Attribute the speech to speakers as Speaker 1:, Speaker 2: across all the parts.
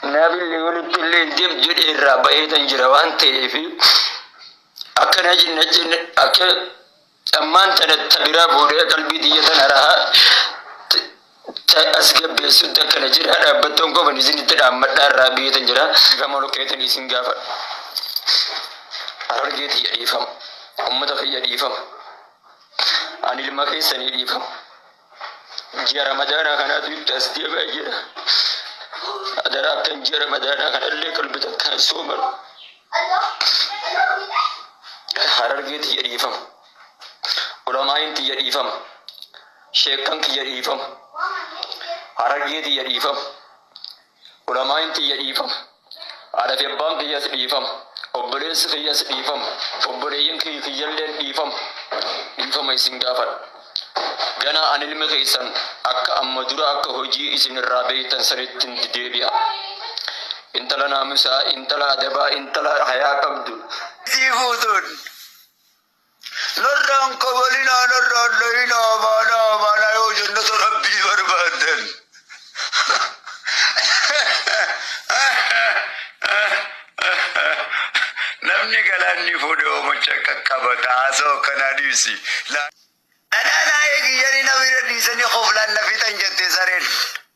Speaker 1: Kanaafillee walittilleen deem jedhee irraa ba'eetan jira waan ta'eef akkana jenna jenna akka ammaan tana ta biraa fuudhee qalbii tiyya tana rahaa t- ta as gabbeessutti akkana jira dhaabbattoon qofan isinitti dhaammadhaa irraa ba'eetan jira gama lukeetan isin gaafa harargee tiyya dhiifama ummata kiyya dhiifama ani ilma keessanii dhiifama ji'a ramadaanaa kanaatu itti as deebi'a jedha. Adaraa akkan ji'a ramadaanaa kanallee qalbi takkaan sooman harargee tiyya dhiifama. Ulamaa'iin tiyya dhiifama. Sheekkan kiyya dhiifama. Harargee tiyya dhiifama. Ulamaa'iin tiyya dhiifama. Haadha fi abbaan kiyyas dhiifama. Obboleessi kiyyas dhiifama. Obboleeyyan kiyyi kiyyalleen dhiifama. Dhiifama isin gaafadha. Ganaa an ilmi keessan akka amma dura akka hojii isin irraa beeytan sanittin deebi'a. Intala naamusaa, intala adabaa, intala hayaa qabdu. Isii fuutuun. Narraan kabalinaa narraan dhayinaa baanaa baanaa yoo jannata rabbii barbaaddan. Namni galaanni fuudhe oomacha qaqqabata haasoo akkanaa dhiisi. Laa- Anaa naa eegi jedhanii na bira dhiisanii koflaan na fixan jette sareen.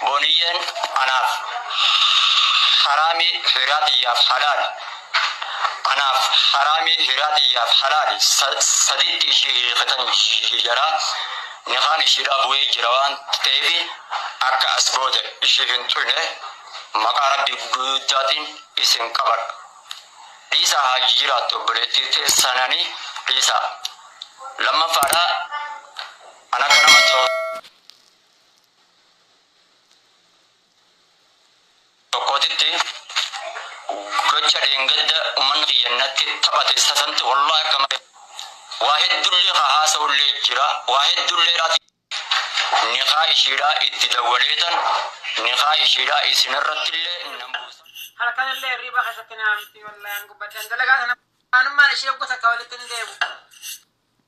Speaker 1: Booniyyeen anaaf haraami hiraa tiyyaaf halaali Anaaf haraami hiraa tiyyaaf halaali saditti ishii hiikatan jira nikaan ishiidhaa bu'ee jira waan ta'eefi akka as booda ishii hin tuyne maqaa rabbii guddaatiin isin qabadha dhiisaa haa jiraattu obboleettii teessananii dhiisaa lammaffaadhaa an akka nama tokkootitti gocha dheengadda ummanni kiyya natti taphate sasanti wallahi akka malee waa heddullee haa haasa'ullee jira waa heddullee irraati nikaa ishiidhaa itti dawwaleetan nikaa ishiidhaa isinirrattillee nan buusa. halkanillee hirriba keessatti naamti wallahi an gubbadhan dalagaa sana anummaan ishee gosa akka walitti hin deebu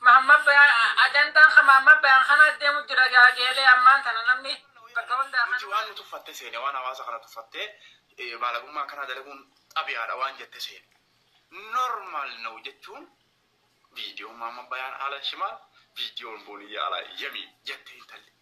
Speaker 1: Mahammad Bayan Ajandaan kan Mahammad Bayan kana deemu jira gaa geelee ammaan tana namni bakka hundaa Nuti waan kanuma. nu tuffatte seene
Speaker 2: waan hawaasa kana tuffattee eh, baalagummaa akkanaa dalaguun xabiyaadha waan jette seene. Normal now jechuun viidiyoon maamma bayaan ala shimaal viidiyoon booniyyaa ala yamiin jette intalli.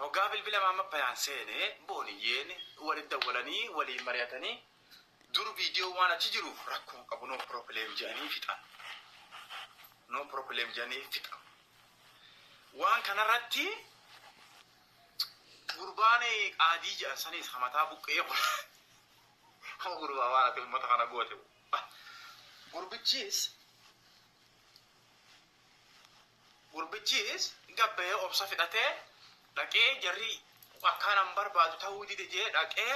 Speaker 2: Hoggaa bilbila Maammabbahiyaan seene Booniyyeen walitti dawwalanii waliin mari'atanii dur viidiyoon waan achi jiruuf rakkoo hin qabu no problem jedhanii fixan. No problem jedhanii fixan. Waan kanarratti gurbaan qaadii jedhan saniis hamataa buqqee kun hoo gurbaa waan ati uummata kana goote gurbichiis Gurbichiis gabba'ee obsa fixatee dhaqee jarri akkaan an barbaadu ta'uu dide jee dhaqee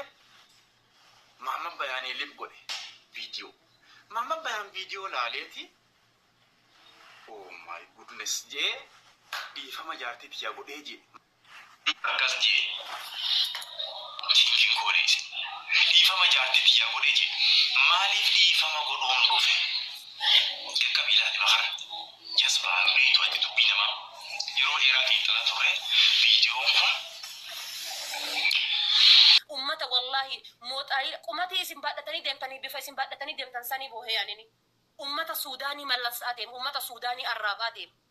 Speaker 2: Maamman Bayaanee lib godhe viidiyoo. Maamman Bayaan viidiyoo laaleeti oh my goodness jee dhiifama jaartii tiyyaa godhee jee. Akkas je'e, Jinjiin koo deese. Dhiifama jaartii tiyyaa godhe je'e. Maaliif dhiifama godhuun dhufe? Jalqabii ilaali ma kana. Jasbaa hin beeytu ati dubbii namaa. Yeroo dheeraa xiinxalaa turre viidiyoon kun.
Speaker 3: Ummata wallahi moxaayila qumatii isin baadhatanii deemtanii bifa isin baadhatanii deemtan sanii boohee anini. Ummata suudaanii mallassaa deema ummata suudaanii arraabaa deema.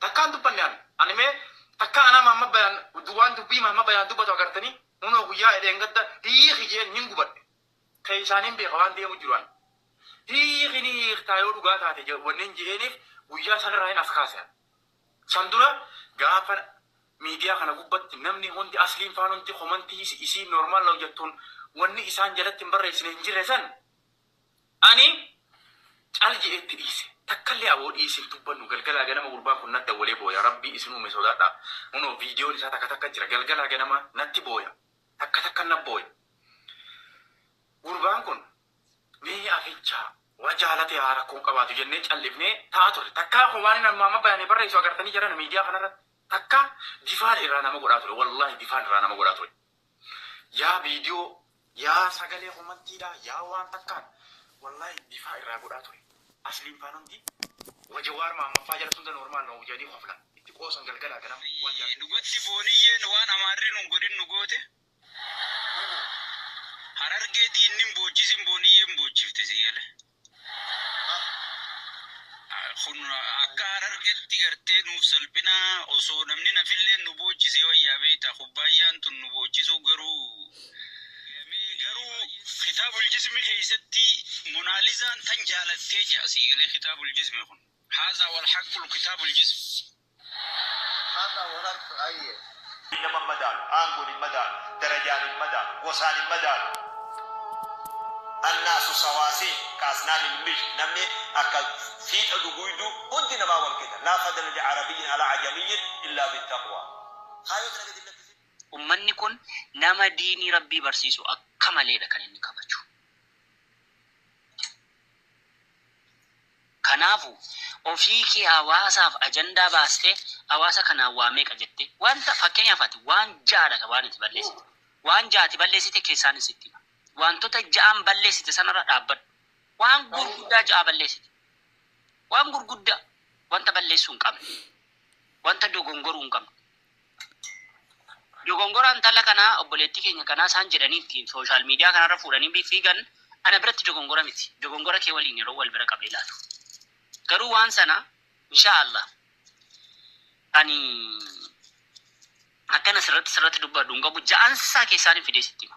Speaker 2: Takkaa hin dubbanne ani. Ani mee takkaa anaa Mahammad Bayaan waan dubbii Mahammad Bayaan dubbatu agartanii? Hunoo guyyaa dheengadda hiiki je'een hin gubadhe. Keeysaan hin beeka waan deemu jiru ani. Hiiki ni hiiktaa yoo dhugaa taate wannin je'eeniif guyyaa sanirraa hin as kaase ani. San dura gaafa miidiyaa kana gubbatti namni hundi Asliin faan hundi komantii isiin normal now jattuun wanni isaan jalatti hin barreeysine hin jirre san, Ani cal je'ee itti dhiise. Takkallee aboo dhiisi hin dubbannu. Galgalaa ganama gurbaan kun nat dawwalee booya. Rabbii isin uume sodaadhaa. Kunoo viidiyoon isaa takka takka jira. Galgalaa ganama natti booya. Takka takka nat booya. Gurbaan kun mee aficha wa jaalate haa rakkoo hin qabaatu jennee caldhifnee taa'aa turre. Takkaa kun waanin amma amma bayanee barreessu agartanii jarana miidiyaa kanarratti. Takkaa bifaan irraa nama godhaa ture. Wallaahi bifaan irraa nama godhaa ture. Yaa viidiyoo yaa sagalee komantiidhaa yaa waan takkaan wallaahi bifaa irraa godhaa ture asliin faan hundi wa jawaar mahammad faa jalatti hunda normal noo jedhanii koflan itti qoosan galgalaa ganama waan jaartii tiyyaa. Dhugatti fooniyyeen
Speaker 4: waan amaarri nun godhin nu goote Harargee diinnin boochisin booniyyeen boochifte sii galee. Kun akka harargetti gartee nuuf salphina osoo namni nafilleen nu boochisee wayyaa beekta kubbaayyaan tun nu boochisuu garuu garuu kitaabul jismi keessatti monaalizaan tan jaalattee jedha sii galee kitaabul jismi kun haazaa wal haqqul kitaabul jismi.
Speaker 5: Har'a wal argtu ayyee. Biyyi nama hin madaalu, aangoon hin madaalu, darajaan hin madaalu, gosaan hin madaalu. Annaasu sawaasiy ka'asnaani ilmij Namni akka fiixa duguuyduu hundi namaa wal qixa. Laa fadla li arabiyyin alaa ajamiyyin illaa fi taqwaa. Kaayoo dalaga jennatti si. Ummanni kun
Speaker 4: nama diinii Rabbii barsiisu akka maleedha kan inni kabaju. Kanaafu, ofii kee hawaasaaf ajandaa baastee hawaasa kanaan waa meeqa jette? Wanta, fakkeenyaaf ati waan 6 dha ka waan ati balleessite. Waan 6 ati balleessite keessaanis sitti hima. Waantota 6n balleessite sanarra dhaabbadhu. Waan gurguddaa 6 balleessite. Waan gurguddaa. Wanta balleessuu hin qabne. Wanta dogongoruu hin qabne. Dogongora intala kanaa obboleettii keenya kanaa isaan jedhanii ittiin social media kanarra fuudhanii fiigan ana biratti dogongora miti. Dogongora kee waliin yeroo wal bira qabee ilaalu. Garuu waan sana inshaa Allah ani akkan asirratti sirratti dubbadhu hin qabu ja'ansaa keessaanin fidee sitti hima.